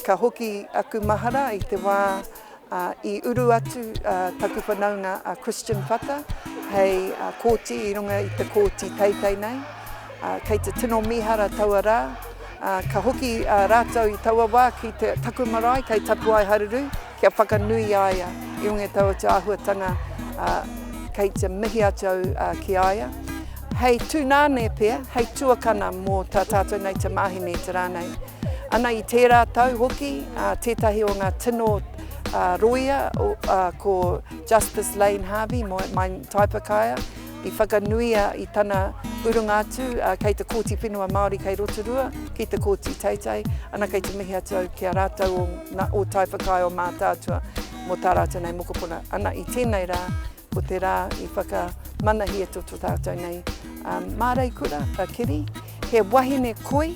Ka hoki aku mahara i te wā i uru atu taku whanaunga a Christian Whata hei kōti i runga i te kōti teitei nei. Kei te tino mīhara taua rā. Ka hoki rātou i taua wā ki taku marae kei Tapuaeharuru. Kia whakanui i a ia i runga i taua atu āhuatanga kei te mihi atu au ki a ia. Hei tūnane pea, hei tuakana mō tā tātou nei te māhine i te rā nei. Ana i tērā tau hoki, tētahi o ngā tino rōia ko Justice Lane Harvey, mai Taipakaea, i whakanuia i tana urunga atu kei te Kōti Whenua Māori kei Rotorua, ki te Kōti Teitei, ana kei te mihi atu au ki a rātou o ngā o Tai Whakaae o Mātaatua mō tā rātou nei mokopuna. Ana i tēnei rā, ko te rā i whakamanahia to to tātou nei Mārei Kura, a Kiri, he wahine koi,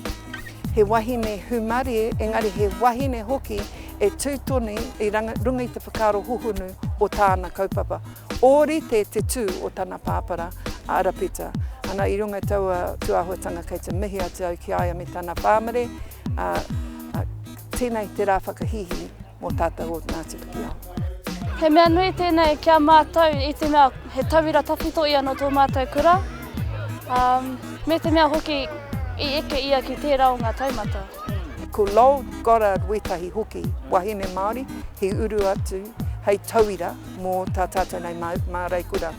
he wahine humarie, engari he wahine hoki e tū tonu i runga i te whakaaro hohonu o tāna kaupapa. Ōrite te tū o tana pāpara, a Arapeta, ana i runga i taua tūāhuatanga kei te mihi atu au ki a ia me tana pāmare, ā, tēnei te rā whakahīhī mō tātou o Ngāti Pikiao. He mea nui tēnei ki a mātou i te mea he tauira tawhito ia nō tō mātou kura, ā, me te mea hoki i eke ia ki tērā o ngā taumata. Ko Lowell Goddard wētahi hoki wahine Māori i uru atu hei tauira. mō tā tātou nei māreikura.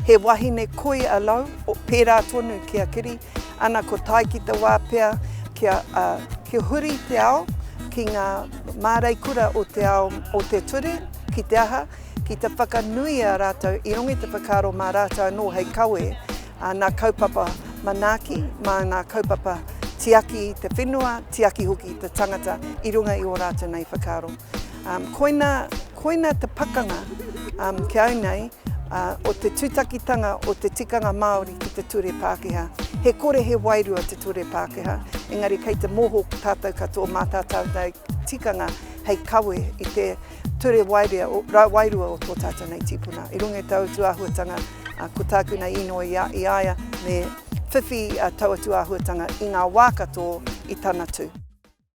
He wahine koi a Lau, pērā tonu ki a Kiri, ana ko tae ki te wā pea kia, uh, kia huri te ao ki ngā māreikura o te ao o te ture, ki te aha, ki te whakanui a rātou i rongi te whakaaro mā rātou anō hei kawe a nā kaupapa manaaki, mā ngā kaupapa tiaki te whenua, tiaki hoki te tangata i runga i o rātou nei whakaaro. Koina, koina te pakanga ki au nei o te tutakitanga o te tikanga Māori ki te ture Pākehā. He kore he wairua te ture Pākehā, engari kei te moho tātou katoa mā tā tātou tikanga hei kawe i te ture wairua o tō tātou nei tīpuna. I runga i tāu atu āhuatanga, ko tāku nei inoi i a, i a ia me whiwhi taua atu āhuatanga i ngā wā katoa i tana tū.